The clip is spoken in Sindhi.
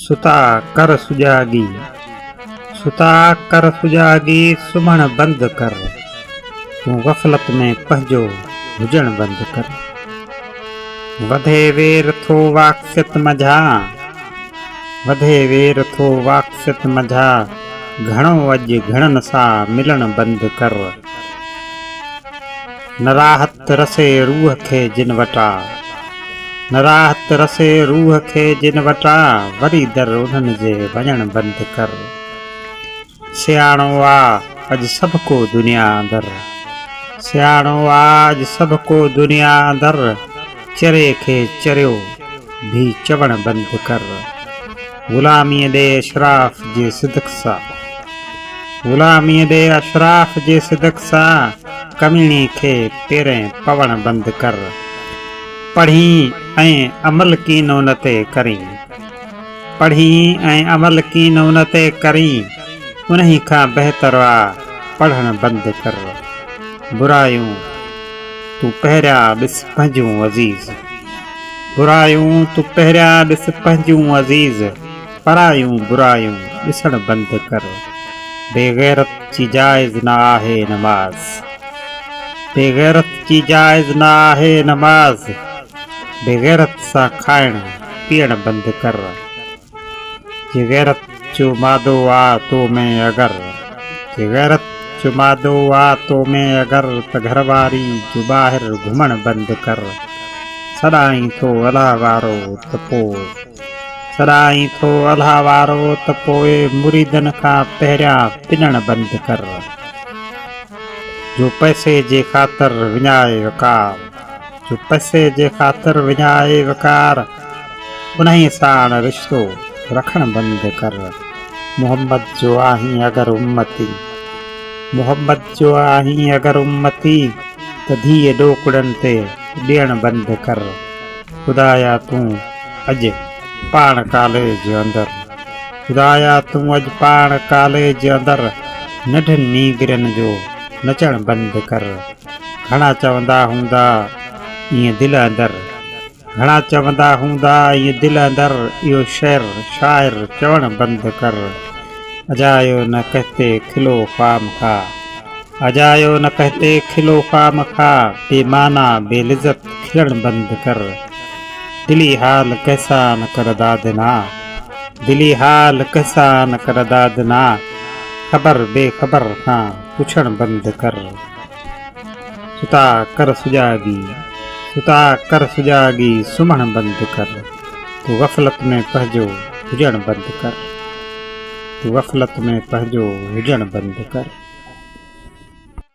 ستا ڪر سجاڳي ستا ڪر سجاڳي سمهڻ بند ڪر تون غفلت ۾ پنهنجو هجڻ بند ڪر وڌي وير ٿو واقفيت منجھا وڌي وير ٿو واقفيت منجھا گھڻو اڄ گھڻن سا ملڻ بند ڪر نه راحت رسي روح کي جن وٽا نه راحت رسي روح کي جن وٽا وري در انهن جي وڃڻ بند ڪر سياڻو آ اڄ سڀ ڪو دنيا اندر سياڻو آ اڄ سڀ ڪو دنيا اندر چري کي چريو ڀي چوڻ بند ڪر. غلاميء ڏي اشراف جي صدق سان غلاميء ڏي اشراف جي صدق سان ڪميڻي کي پيرين پوڻ بند ڪر پڙهين ۽ عمل ڪين ان تي ڪرين پڙهين ۽ عمل ڪين ان تي ڪرين انهي کان بهتر آ پڙهڻ بند ڪر برايون تون پهريان ڏس پنهنجون عزيز. برايون تون پهريان ڏس پنهنجون عزيز پرايون برايون ڏسڻ بند ڪر بيغيرت جي جائز نه آهي نماز بيغيرت جي جائز نه آهي نماز بيغيرت سان کائڻ پيئڻ بند ڪر. جي غيرت جو مادو آ تو ۾ اگر جي غيرت جو مادو آ تو ۾ اگر ته گهر واري جو ٻاهر گهمڻ بند ڪر سڏائين ٿو الهه وارو ته پوء سڏائين ٿو الهه وارو ته پوء مريدن کان پهريان پڄڻ بند ڪر جو پئسي جي خاطر وڃائي وقار. جو پئسي جي خاطر وڃائي وقار انهي ساڻ رشتو رکڻ بند ڪر محمد جو آهين اگر امتي محمد جو آهين اگر امتي ته ڌيء ڏوڪڙن تي ڏيڻ بند ڪر خدايا تون اڄ پاڻ ڪاليج اندر خدايا تون اڄ پاڻ ڪاليج اندر ننڍن نينگرين جو نچڻ بند ڪر. گهڻا چوندا هوندا ائين دل اندر گهڻا چوندا هوندا ائين دل اندر اهو شعر شاعر چوڻ بند ڪر اجايو نه ڪهتي کلو خام خا اجايو نه ڪهتي کلو خام خا بي معنيٰ بي لذت کلڻ بند ڪر دلي حال ڪهسان ڪر دادنا دلي حال ڪهسان ڪر دادنا خبر بي خبر کان پڇڻ بند ڪر. ستا ڪر سجاڳي، ستا ڪر سجاڳي سمهڻ بند ڪر، تو غفلت ۾ پنهنجو هجڻ بند ڪر، تو غفلت ۾ پنهنجو هجڻ بند ڪر.